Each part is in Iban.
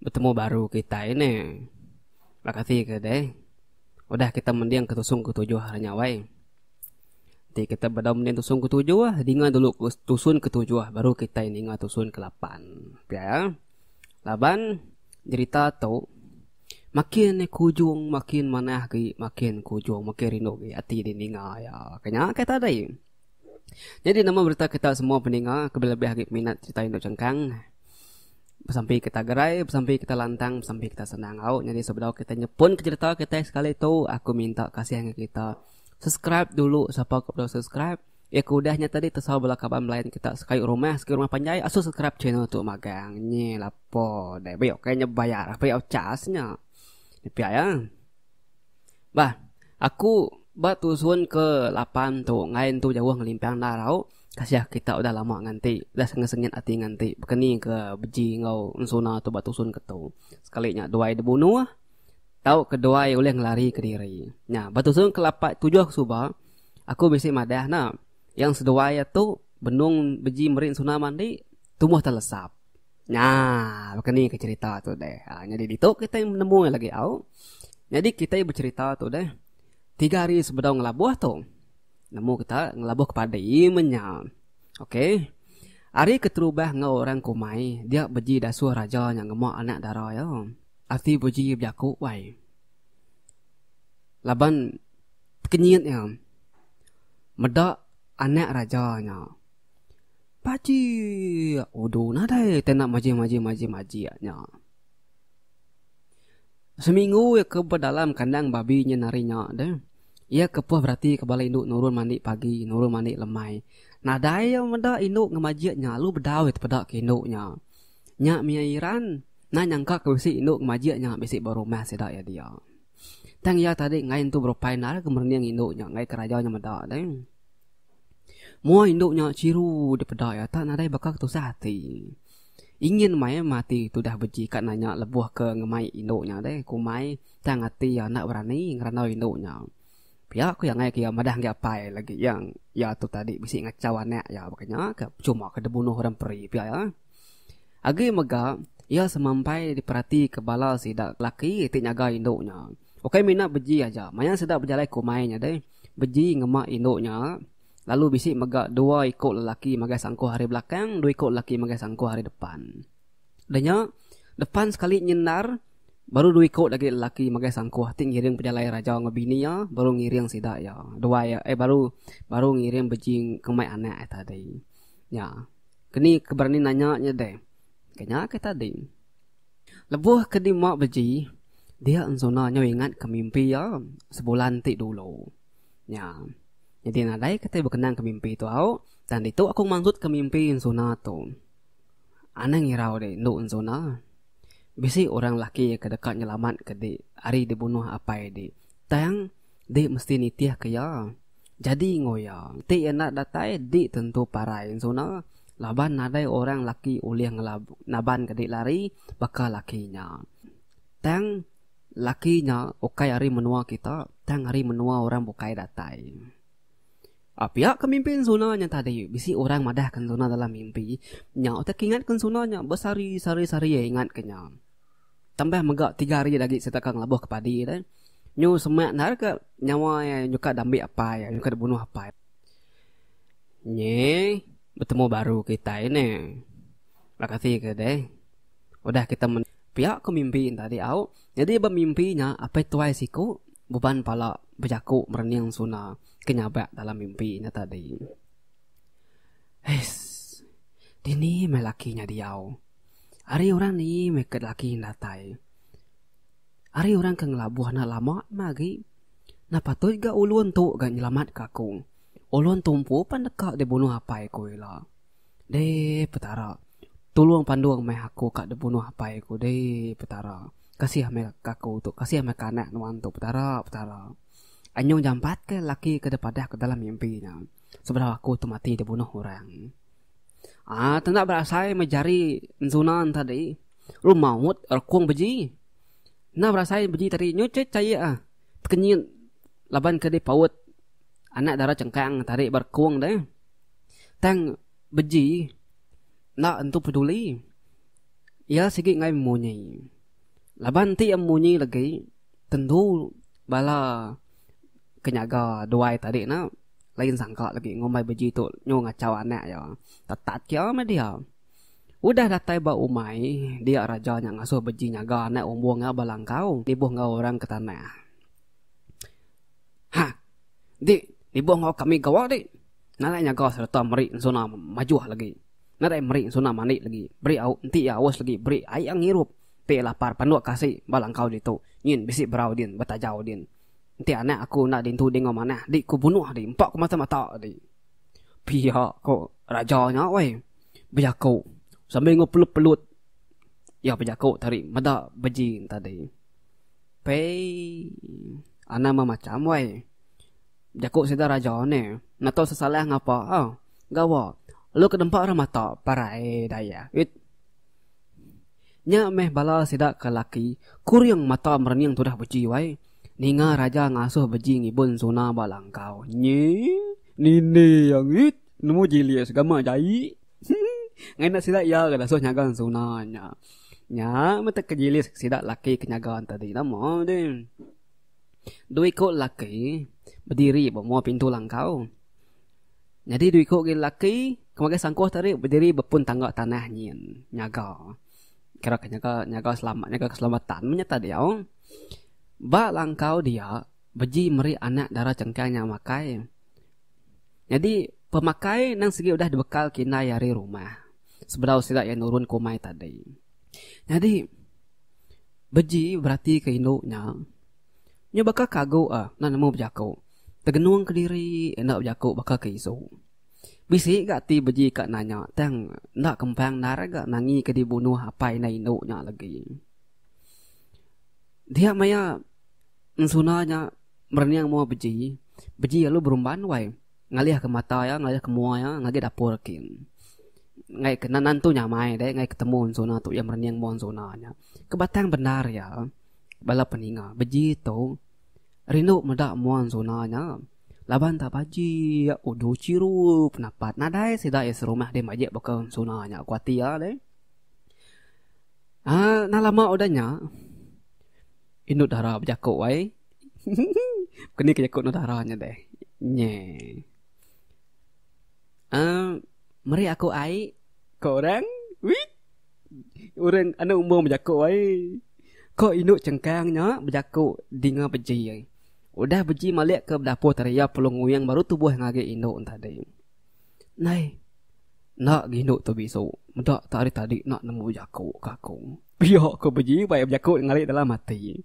Betemu baru kitai ne. Makasih ke deh. Udah kita mending ke tusung ke tujuh hari nya wai. Ti kita bedau mending tusun ke tujuh ah dinga dulu tusun ke tujuh ah baru kita ninga tusun ke lapan. Pia ya. Laban jerita tu makin e ke ujung makin manah agi makin ke ujung makin rindu agi ati di ninga iya. Ka nya kai tadi. Jadi nama berita kita semua pendengar ke lebih lebih agi peminat cerita indu chengkang. Besampi kita gerai, besampi kita lantang, besampi kita senang. Au, nyadi sebedau kita nyepun ke cerita kita sekali tu, aku minta kasih dengan kita. Subscribe dulu siapa ke belum subscribe. Ya ke udah nya tadi tesau bala kaban belain kita sekali rumah, sekali rumah panjai asu subscribe channel tu magang. Nye lapo deh. Beh oke nya bayar, bayar cas nya. Dipia ya. Bah, aku ba tusun ke lapan tu enggai entu jauh ngelimpang enda rau kasih kita udah lama nganti udah sengit sengit ati nganti bekeni ke beji enggau ensuna tu ba tusun ke tu sekali nya duai dibunuh tau ke duai ulih ngelari ke diri nya ba tusun ke lapan tujuh ke suba aku bisi madah ne yang seduai tu benung beji meri ensuna mandi tubuh telesap. Nya, baka ni ke cerita tu deh. Ha, jadi ditu kita nemu lagi au. Jadi kita bercerita tu deh. Tiga hari sebedau ngelabuh tu. Nemu kita ngelabuh kepada imenya. Okey. Hari keterubah ngau orang kumai, dia beji dasuh raja nya ngemak anak dara ya. Ati beji bejaku wai. Laban kenyit ya. Meda anak raja nya. Bajik! Udu nadai te enda majik majik majik majik nya. Seminggu iya ke bedalam kandang babi nya hari nya deh. Iya kepuh berati ke bala indu nurun mandi pagi, nurun mandi lemai. Nadai iya meda indu ngemajik nya lalu bedau iya tepeda ke indu nya. Nya mih Iran, enda nyangka ke bisi indu ngemajik nya bisi ba rumah sida iya dia. Tang iya tadi ngain tu berupai endar ke merening indu nya ngaika raja nya meda deh. Moa indu nya chiru dipeda iya tak nadai baka ketusah ati. Ingin mai mati tudah beji ka nanya lebuh ke ngemai indu nya deh ku mai tang ati iya enda berani ngerandau indu nya. Pia ku iya ngaika iya madah enggai apai lagi iya iya tu tadi bisi ngachau anak iya baka nya ka cuma ke dibunuh orang peri pia iya. Agi mega iya semampai diperatika bala sida laki ti nyaga indu nya. Ukai mina beji aja maya sida bejalai ku mai nya deh. Beji ngema indu nya lalu bisi mega dua iku lelaki magai sangkuh ari belakang, dua iku lelaki magai sangkuh ari depan. Udah nya, depan sekali nyin endar, baru dua iku agi lelaki magai sangkuh ti ngiring pejalai raja enggau bini iya baru ngiring sida iya duai iya eh baru baru ngiring beji ngemai anak iya tadi. Nya, ke ni ke berani nanya nya deh. Ke nya ke tadi. Lebuh ke dima beji, dia enzuna nyau ingatka mimpi iya sebulan ti dulu nya. Nyadi nadai kitai bekenangka mimpi tu au, tang ditu aku mansutka mimpi enzuna tu. Anang irau dek endu enzuna. Bisi orang laki ke deka nyelamatka dek ari dibunuh apai dek, tang. Dek mesti nitih ke iya. Jadi enggau iya. Ti iya enda datai dek tentu parai ensuna laban nadai orang laki ulih ngelaban ke dek lari baka laki nya. Tang laki nya ukai ari menua kita tang ari menua orang bukai datai. A piak ke mimpi ensuna nya tadi bisi orang madah ke ensuna dalam mimpi nya utai ke ingat ke ensuna nya besari sari sari iya ingat ke nya. Tambah mega tiga hari agi sereta ka ngelabuh ke padi deh. Nyu semak endar ke nyawa iya nyuka da ambi apai iya nyuka da bunuh apai. Nyi betemu baru kitai neh. Terima kasih ke deh. Udah kita mending. Pia ku mimpi nya tadi au. Nyadi ba mimpi nya apai tuai siku beban pala bejaku merening suna ke nyabak dalam mimpi nya tadi. Hais. Dini meh laki nya diau. Ari orang ni meh ke laki datai. Ari orang ke ngelabuh enda lama meh agi. Enda patut ga ulun tu ga nyelamatka aku. Ulun tu empu pan deka dibunuh apai ku ila. Deh Petara. Tulung pandung meh aku ka dibunuh apai ku deh Petara. Kasih meh ka aku tu. Kasih meh ka anak nuan tu Petara Petara. Anyung jampat ke laki ke dipadah ke dalam mimpi nya. Sebedau aku tu mati dibunuh orang. Ah, tenda berasai meh jari ensunan tadi. Lu maut rekung beji. Nah berasai beji tadi nyu ceh cair ah. Tekenyit laban ke dipaut anak dara cengkang tadi ba rekung deh. Tang beji enda entu peduli. Iya sigi ngai munyi. Laban ti iya munyi lagi tentu bala. ke nyaga duai tadi ne lain sangka lagi ngumbai beji tu nyu ngachau anak iya. Tetat kia meh dia. Udah datai ba umai dia raja nya ngasuh beji nyaga anak umbung iya ba langkau nibuh enggau orang ke tanah. Ha dik nibuh enggau kami gawa dik. Nadai nyaga sereta meri ensuna majuh lagi. Nadai meri ensuna mandi lagi. Beri au enti iya aus lagi beri ai iya ngirup. Ti lapar panduk kasik ba langkau ditu nyin bisi berau din betajau din. Enti anak aku enda dintu dinga manah di ku bunuh di empa ku mata mata di. Pia ko raja nya woi. Bejaku sambil enggau pelup pelut iya bejaku tadi meda bejin tadi. Pei anak meh macam woi. Bejaku sida raja ne enda tau sesalah ngapa au. Gawa lalu ke nempa orang mata parai dayak. Nya meh bala sida ke laki, kuring mata merening tudah beji wai. Ninga raja ngasuh beji ngibun suna ba langkau. Nyi, nini yang it, nemu jilis ga ma jai. Ngena sida iya ga dasuh nyaga suna nya. Nya meh te ke jilis ke sida laki ke nyaga tadi nama deh. Dua iko laki bediri ba mua pintu langkau. Nyadi dua iku agi lelaki ke makai sangkuh tadi bediri bepun tangga tanah nyin nyaga kira ke nyaga nyaga selamat nyaga keselamatan meh nyata diau. Ba langkau dia beji meri anak dara chengkang nya makai. Nyadi pemakai nang sigi udah dibekal kindai ari rumah sebedau sida iya nurun ke umai tadi. Nyadi beji beratika indu nya nya baka kagu a nan nemu bejaku tegenung kediri enda bejaku baka ke isu. Bisi ga ti beji ka nanya tang enda kempang endar ga nangi ke dibunuh apai enggau indu nya legi. Dia maya ensuna nya merening mua beji, beji lalu berumban wai ngalih ke mata iya ngalih ke mua iya ngagai dapur kin. Ngai ke nan tu nyamai deh ngai ketemu ensuna tu iya merening mua ensuna nya. Kebatang bendar iya bala peninga beji tu. Rindu meda muan Zona nya laban tak baji iya udu chiru penapat nadai sida iya serumah deh majik baka Zona nya ku ati iya deh. Aaa enda lama udah nya indu dara bejaku ai hehehe keni ke jaku indu dara nya deh nye aaa meri aku ai ko orang wih. Urang anu umur bejaku ai. Ko indu chengkang nya bejaku dinga beji ai. Udah beji malik ke dapur tadi iya pulung nguing baru tubuh ngagi indu tadi. Nai enda gi indu tu bisu meda tu ari tadi enda nemu bejaku ke aku. Pia ko beji ba iya bejaku ngali dalam ati.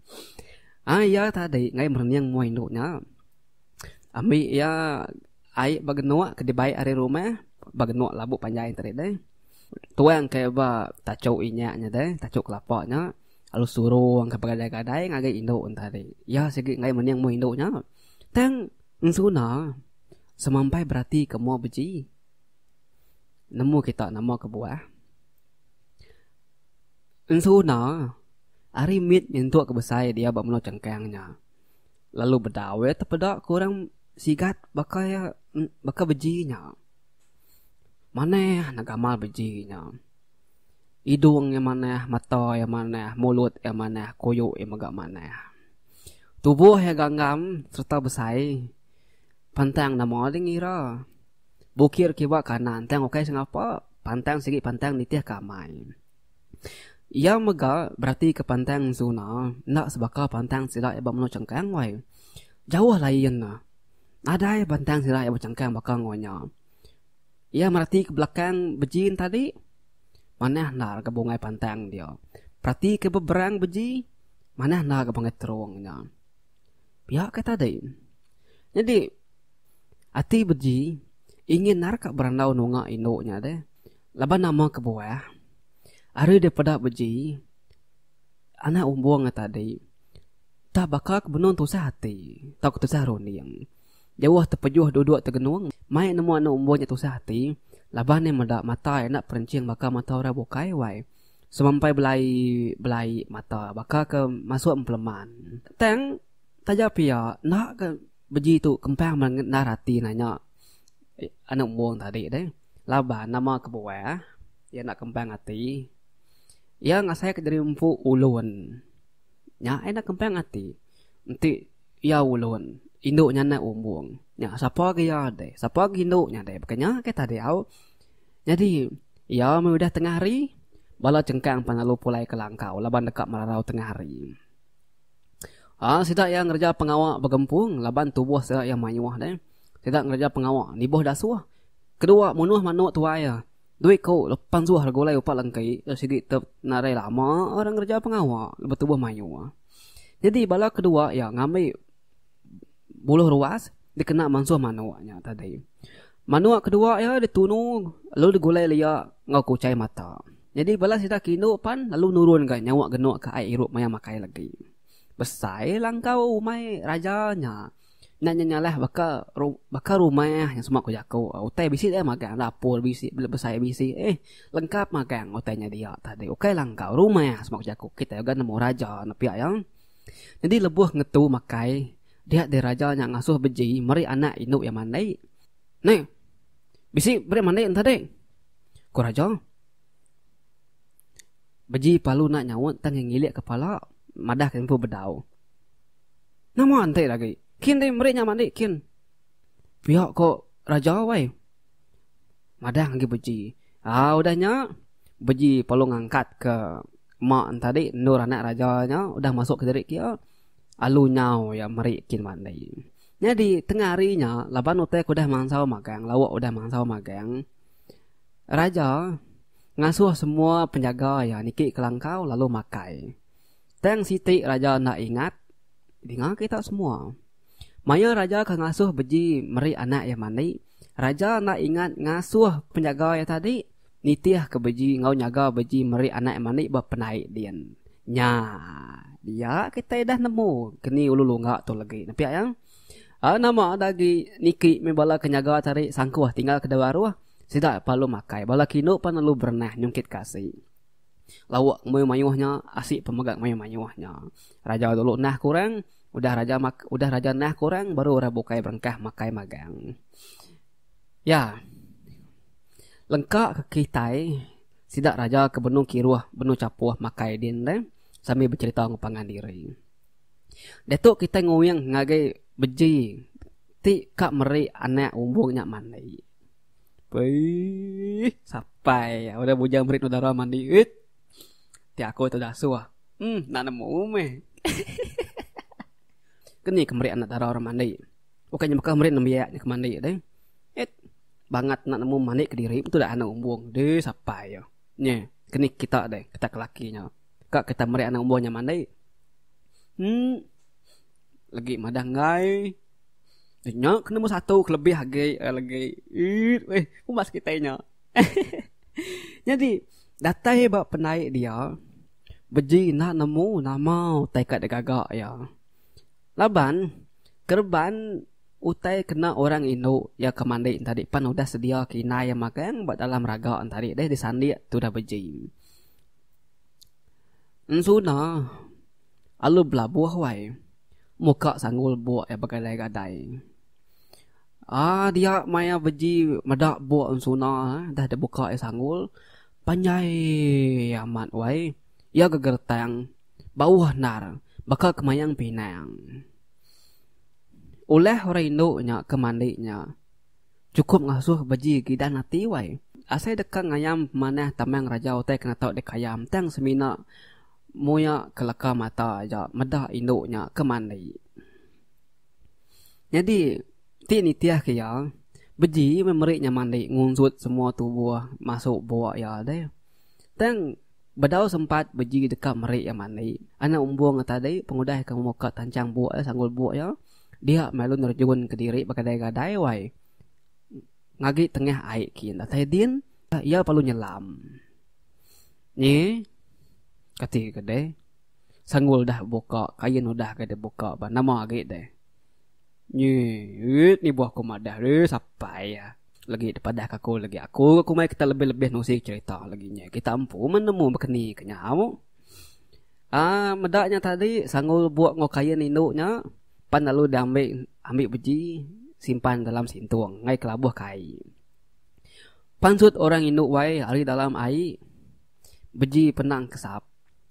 Ai iya tadi ngai merening mua indu nya ambi iya ai ba genuk ke dibai ari rumah ba genuk labu panjai tadi deh. Tuang ke ba tachu inya nya deh, tachu kelapa nya lalu suruh ke begadai-gadai ngagai indu enti hari. Iya sigi enggai mening umur indu nya. Tang ensuna semampai beratika mua beji nemu kita nama kebuah. Ensuna ari mit nyentuk ke besai dia ba menua Chengkang nya lalu bedau iya tepeda ke orang sigat baka iya baka beji nya. Manah anak gamal beji inya. Idung iya manah, mata iya manah, mulut iya manah, kuyu iya mega manah. Tubuh iya ganggam sereta besai. Pantang nama dih ngira. Bukir kiba kanan tang ukai sengapa, pantang sigi pantang nitih ke amai. Iya mega beratika pantang Zuna enda sebaka pantang sida iya ba menua Chengkang wai. Jauh lain ne. Nadai bantang sida iya bechangkang baka enggau nya. Iya merati ke belakang beji ne tadi manah enda ke bungai pantang dia. Perati ke beberang beji manah enda ke panggil terung nya. Pia ke tadi. Nyadi ati beji ingin nara ka berandau nunga indu nya deh. Laban nama kebuah ari daripada beji anak umbung nya tadi. Tah baka ke benung tusah ati tauka tusah runding. Jauh tepejuh duduk tegenung mai nemu anu umbu nya tusah ati laban iya meda mata iya enda perenching baka mata orang bukai wai. Semampai belai belai mata baka ke masuk empeleman. Tang taja pia enda ke beji tu kempang mega ngendar ati nanya anu umbu tadi deh laban nama kebuah iya enda kempang ati iya ngasai ke diri empu ulun. Nya enda kempang ati. Enti iya ulun, indu nya enda umbung. Nya sapa agi iya deh. Sapa agi indu nya deh. Baka nya ke tadi au. Nyadi iya meh udah tengah hari, bala chengkang pan lalu pulai ke langkau laban deka merarau tengah hari. Aa sida iya ngereja pengawa begempung laban tubuh sida iya mayuh deh. Sida ngereja pengawa nibuh dasuh. Kedua munuh manuk tuai iya. Duit ko lepan suah gulai upa lengki ke sigi tep nadai lama orang ngereja pengawa betubuh mayuh. Nyadi bala ke dua iya ngambi buluh ruas dikena mansuh manok nya tadi. Manok ke dua iya ditunu lalu digulai lia enggau kuchai mata. Nyadi bala sida ke indu pan lalu nurun ka nyawa genok ka ai irup maya makai legi. Besai langkau umai raja nya. Nya nya nyalah baka baka rumah nya sema ku jaku utai bisi dia magang dapur bisi bela besai bisi eh lengkap magang utai nya dia tadi ukai langkau rumah sema ku jaku kitai udah nemu raja enda pia iya. Jadi lebuh ngetu makai dia deh raja nya ngasuh beji meri anak indu iya mandi. Neh bisi meri mandi enta deh ku raja. Beji palu enda nyaut tang iya ngilik kepala madah ke empu bedau. Nama enti agi? Kin deh meri nya mandi kin. Pia ko Raja wai. Madang agi beji. Aa udah nya beji perlu ngangkat ke mak enta dik endur anak Raja nya udah masuk ke diri kia alu nyau ya meri kin mandi. Nyadi tengah hari nya laban utai ke udah mansau magang lauk udah mansau magang Raja ngasuh semua penjaga ya niki ke langkau lalu makai. Tang siti raja enda ingat, dinga kita semua. Maya raja ke ngasuh beji meri anak iya mandi, raja enda ingat ngasuh penjaga iya tadi nitih ke beji enggau nyaga beji meri anak iya mandi ba penai din. Nya dia kita dah nemu keni ulu lungga tu legi ne pia yang nama dagi niki meh bala ke nyaga tadi sangkuh tinggal ke dau aruh sida palu makai bala ke indu pan lalu berenah nyungkit ke asi. Lauk ke mayuh-mayuh nya asik pun mega mayuh-mayuh nya. Raja dulu nah ke orang, udah raja udah raja nah ke orang baru orang bukai berengkah makai magang. Ya. Lengka ke kitai sida raja ke benung kiruh benung chapuh makai din deh sambil becerita enggau pangan diri. Diatu kitai nguing ngagai beji ti ka meri anak umbung nya mandi. Uiih sapai udah bujang merit udara mandi uiih ti aku tu dah suah um enda nemu meh ke ni ke merit anak dara orang mandi bukan nya baka merit nembiak nya ke mandi deh et bangat enda nemu mandi kediri tu dah anak umbung deh sapai iya nye ke ni kita deh kita ke laki nya ka kita merit anak umbung nya mandi um lagi madah enggai nya ke nombor satu kelebih agi lagi eek weh umbas kitai nya hehehe nyadi datai ba penai dia beji enda nemu nama utai ka digaga iya laban kereban utai kena orang indu iya ke mandi nya tadi pan udah sedia kinyai magang ba dalam raga nya tadi deh disandik tu udah beji. Ensuna alu belabuh wai muka sanggul buk iya begadai-gadai aaa dia maya beji meda buk ensuna dah dibuka iya sanggul panjai amat wai iya gegertang bauh endar baka ke mayang pinang. Ulah orang indu nya ke mandi nya. Chukup ngasuh beji gidan ati wai. Asai deka ngayam pemanah tamang raja utai kena tau dikayam tang semina muya ke leka mata aja meda indu nya ke mandi. Nyadi ti nitih ke iya, beji meh meri nya mandi ngunsut semua tubuh masu bua iya deh. Tang bedau sempat beji deka meri iya mandi. Anak umbung iya tadi pengudah ke muka tanchang bua iya sanggul bua iya. Dia meh lalu nerjun ke diri begadai-gadai wai ngagi tengah ai kin datai din iya perlu nyelam. Nyi kati ke deh sanggul dah buka kain udah ke dibuka ba nama agi deh. Nyi rit nibuh aku madah ri sapai iya lagi dipadah ka aku lagi aku ku mai kita lebih-lebih nusi cerita lagi nya kita empu menemu bekeni ke nyau. Ah, meda nya tadi sangu lubok enggau kain indu nya pan lalu diambi ambi beji simpan dalam sintung ngaih kelabuh ka ai. Pansut orang indu wai ari dalam ai beji penang kesap.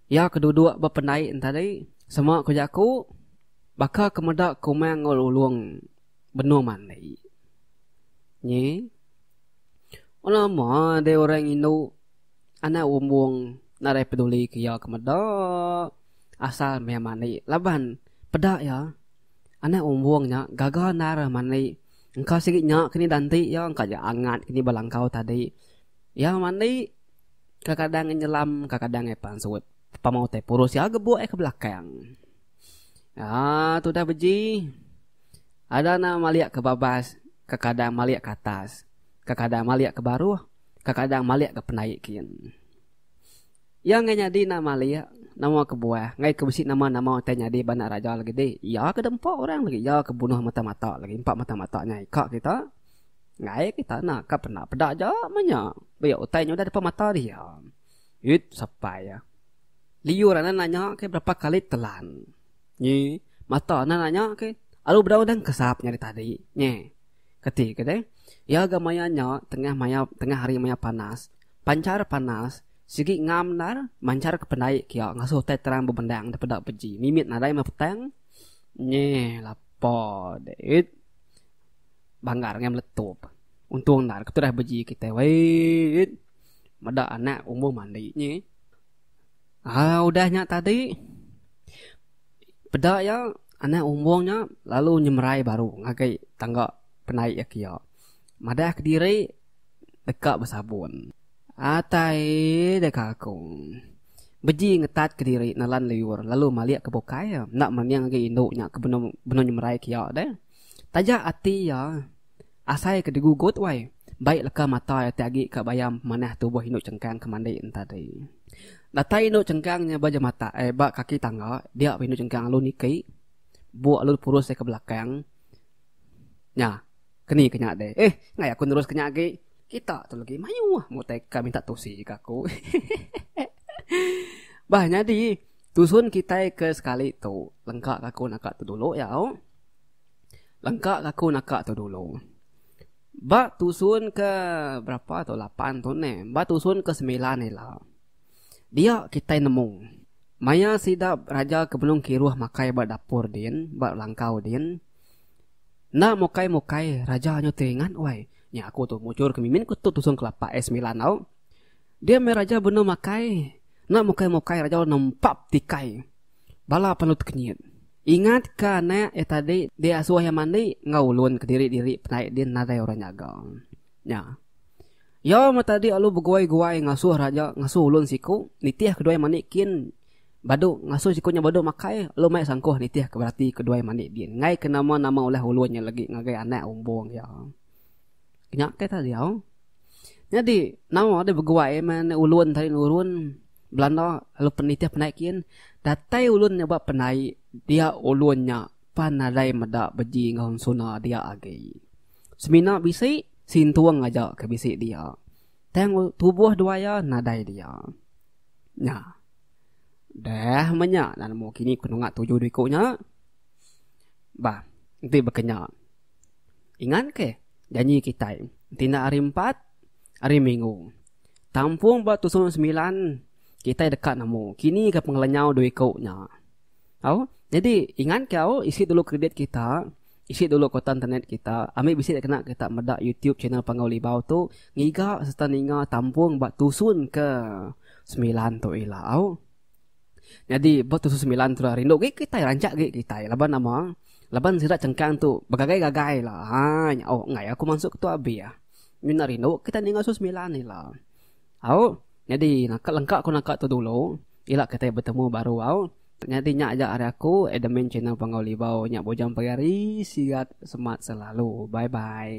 Iya ke dudok ba pendai nya tadi sema ku jaku baka ke meda kumang enggau lulong benung mandi. Nyi. Lama deh orang indu. Anak Umbung nadai peduli ke iya ke meda asal meh mani laban peda iya Anak Umbung nya gaga endar mani engka sigi nya ke ni danti iya engka aja angat ke ni belangkau tadi iya mani kadang-kadang ngi nyelam kadang-kadang ngi pansut pemau utai purus iya gebuk iya ke belakang aaa tudah beji ada enda malik ke babas kadang-kadang malik ke atas kadang-kadang malik ke baruh. Kadang-kadang malik ga penai kin. Iya enggai nyadi enda malik nama kebuah enggai ke bisi nama-nama utai nyadi ba anak raja lagi ti. Iya ke deh empa orang lagi iya ke bunuh mata-mata lagi empa mata-mata nya ika kita. Enggai kita enda ka pernah peda aja meh nya. Pia utai nya udah depan mata dia. Eit sapai iya. Liur anak nanya ke berapa kali telan. Nyi mata anak nanya ke alu bedau dang kesap nyadi tadi. Nyeh. Kati ke deh, iya ga maya nya tengah maya tengah hari maya panas, panchar panas, sigi ngam endar manchar ke pendai kia ngasuh utai terang bebendang da peda beji mimit nadai meh petang. Nyeh lapa deh it. Banggar ngai meletup. Untung endar ketudah beji kitai weh it. Meda anak umbuh mandi nyeh. Aa udah nya tadi peda iya anak umbong nya lalu nyemerai baru ngagai tangga penai iya ke iya madah kediri deka besabun atai deka aku beji ngetat kediri nelan liur lalu malik ke bukai enda mening agi indu nya ke benung nyemerai ke iya deh. Taja ati iya asai ke digugut wai, bai leka mata iya ti agi ka bayam pemanah tubuh indu chengkang ke mandi enta ti. Datai indu chengkang nya ba jemata eh ba kaki tangga dia pun indu chengkang alu niki buk alu purus iya ke belakang nya keni ke nya deh eh enggai aku nerus ke nya agi kita tu legi mayuh mutai ka minta tusi ka aku hehehe bah nyadi tusun kitai ke sekali tu lengka ka aku naka tu dulu iya au. Lengka ke aku naka tu dulu. Ba tusun ke berapa tu lapan tu neh. Ba tusun ke semilan ila. Dia kitai nemu. Maya sida raja ke benung kiruh makai ba dapur din, ba langkau din. Enda mukai mukai raja nyu ti ringat wai. Nya aku tu mujur ke mimin ku tu tusun ke lapan eh semilan tau. Dia meh raja benung makai. Enda mukai-mukai raja lalu nempap tikai bala penelu ti kenyit. Ingat ka anak iya tadi di asuh iya mandi enggau ulun kediri-diri penai din nadai orang nyaga. Nya. Iya meh tadi lalu beguai-guai ngasuh raja ngasuh ulun siku nitih ke dua iya mandi kin badu ngasuh siku nya badu makai lalu mai sangkuh nitih ke berati ke dua iya mandi din. Enggai ke nama-nama ulah ulun nya lagi ngagai anak umbung iya. Nya ke tadi au. Nyadi nawa deh beguai meh enda ulun tadi nurun belanda lalu penitih penai kin datai ulun nyebut penai dia ulun nya pan nadai meda beji enggau suna dia agi. Semina bisi sintung aja ke bisi dia. Tang tubuh dua iya nadai dia. Nya. Deh meh nya lalu kini ku nengah tuju diri ku nya. Bah enti baka nya. Ingat ke janji kitai enti enda hari empat, hari minggu. Tampung ba tusun semilan kitai deka nemu kini ga pengelenyau dua iku nya. Au nyadi ingat ke au isi dulu kridit kita, isi dulu kuota internet kita, ambi bisi da kena kita meda YouTube channel Panggau Libau tu ngiga sereta ninga tampung ba tusun ke semilan tu ila au. Nyadi ba tusu semilan tu rindu gik kitai rancak gik kitai laban nama laban sida cengkang tu begagai gagai la haa nyau enggai aku masuk ke tu abi ah mina rindu kitai ninga tusu semilan ni la au nyadi naka lengka ku naka tu dulu ila kitai betemu baru au nyadi nya aja ari aku admin channel Panggau Libau nya bujang pagi hari sihat semat selalu bye bye.